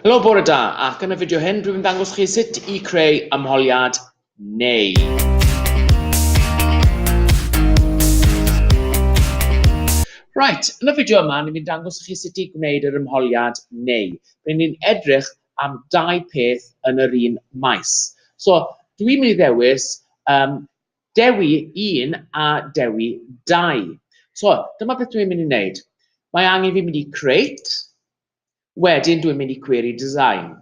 Helo, bore da, ac yn y fideo hyn dwi'n dangos chi sut i creu ymholiad neu Right, yn y fideo yma, ni'n mynd dangos chi sut i gwneud yr ymholiad neu. Rydyn ni'n edrych am dau peth yn yr un maes. So, dwi'n mynd i ddewis um, dewi 1 a dewi 2. So, dyma beth dwi'n mynd i wneud. Mae angen fi mynd i create, Wedyn dwi'n mynd i Query Design.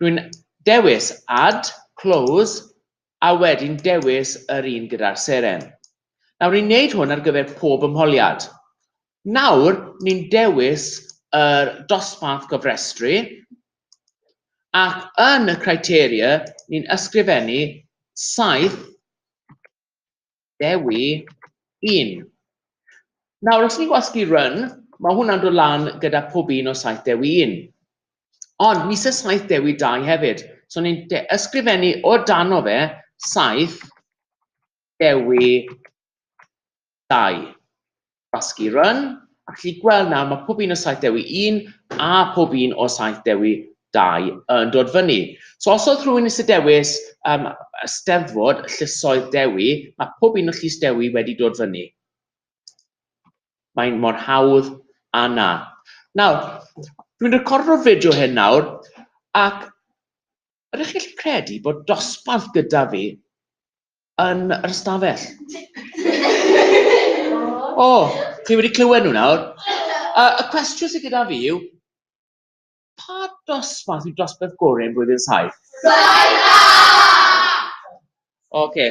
Dwi'n dewis Add, Close, a wedyn dewis yr un gyda'r seren. Nawr ni'n neud hwn ar gyfer pob ymholiad. Nawr ni'n dewis yr dosbarth gofrestru ac yn y criteria ni'n ysgrifennu saith Dewi 1. Nawr, os ni'n gwasgu run, mae hwnna'n dod lan gyda pob un o saith dewi un. Ond ni sy'n saith dewi dau hefyd. So ni'n ysgrifennu o dano fe saith dewi Dau. Basgi Run, a chi gweld nawr mae pob un o saith dewi un a pob un o saith dewi dau yn dod fyny. So os oedd rhywun eisiau dewis um, ysteddfod llysoedd dewi, mae pob un o llys dewi wedi dod fyny. Mae'n mor hawdd a na. Nawr, dwi'n recordo'r fideo hyn nawr, ac ydych chi'n gallu credu bod dosbarth gyda fi yn yr ystafell. O, oh, chi wedi clywed nhw nawr. Uh, y cwestiwn sydd gyda fi yw, pa dosbarth yw dosbarth gorau yn blwyddyn saith? Saitha! Oce. Okay.